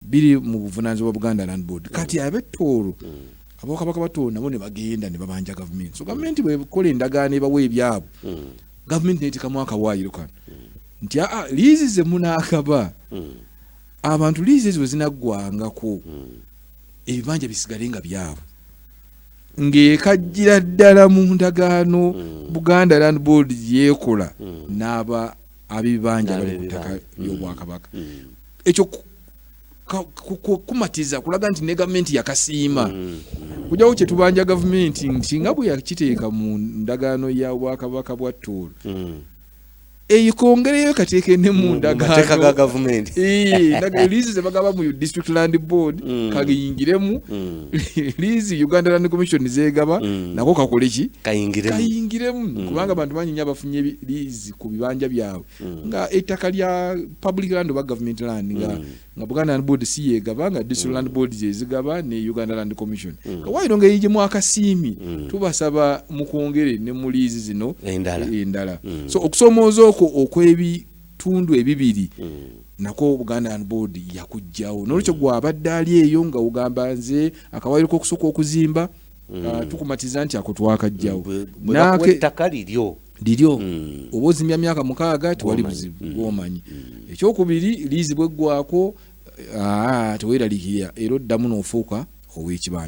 biri mu buvunaanyizibwa bwa Buganda Land Board. Kati ab'e Tooro ab'Obwakabaka ba Tooro nabo ne bagenda ne babanja gavumenti. So gavumenti bw'ekola endagaano ebawa ebyabwe, gavumenti n'eteekamu akawaayiro kano nti aa liizi ze munaakaba abantu liizi ezo bwe zinaggwangako ebibanja bisigale nga byabwe ng'ekajjira ddala mu ndagaano Buganda Land Board gye yeekola n'aba ab'ebibanja bali ku ttaka ly'Obwakabaka. ekyo kumatiza kulaga nti ne gavumenti yakasiima mm. kujawo kyetubanja gavumenti nsinga bwe yakiteeka mu ndagaano ya bwakabaka bwa tuulu mm. eyikongereyo kateeke ne mu mm, ndagaanoliizi zebagaba mu district land board kagiyingiremu liizi uganda land commission zegaba nako kakoleki kayingiremu kubanga bantu banyinya abafunye liizi ku bibanja byabwe Mm. nga ettaka lya public land oba government land nga, mm. nga buganda land board si yegaba nga district mm. land board zezigaba ne uganda land commission mm. kawairo ngeri gye mwakasiimi mm. tubasaba mukwongere ne mu liizi zino endala, endala. Mm. so okusomooza okwo okwebitundu ebibiri mm. nako buganda land board yakujjawo mm. nolwekyo gwabadde ali eyo nga ogamba nze akawairo kokusooka okuzimba mm. mm. uh, tukumatiza nti ako twakajjawo ettaka liryo liryo mm. oba ozimya myaka mukaaga tewali buzibu mm. bwomanyi ekyokubiri liizi bweggwako ah, teweralikirira era oddamu n'ofuuka ow'ekibanja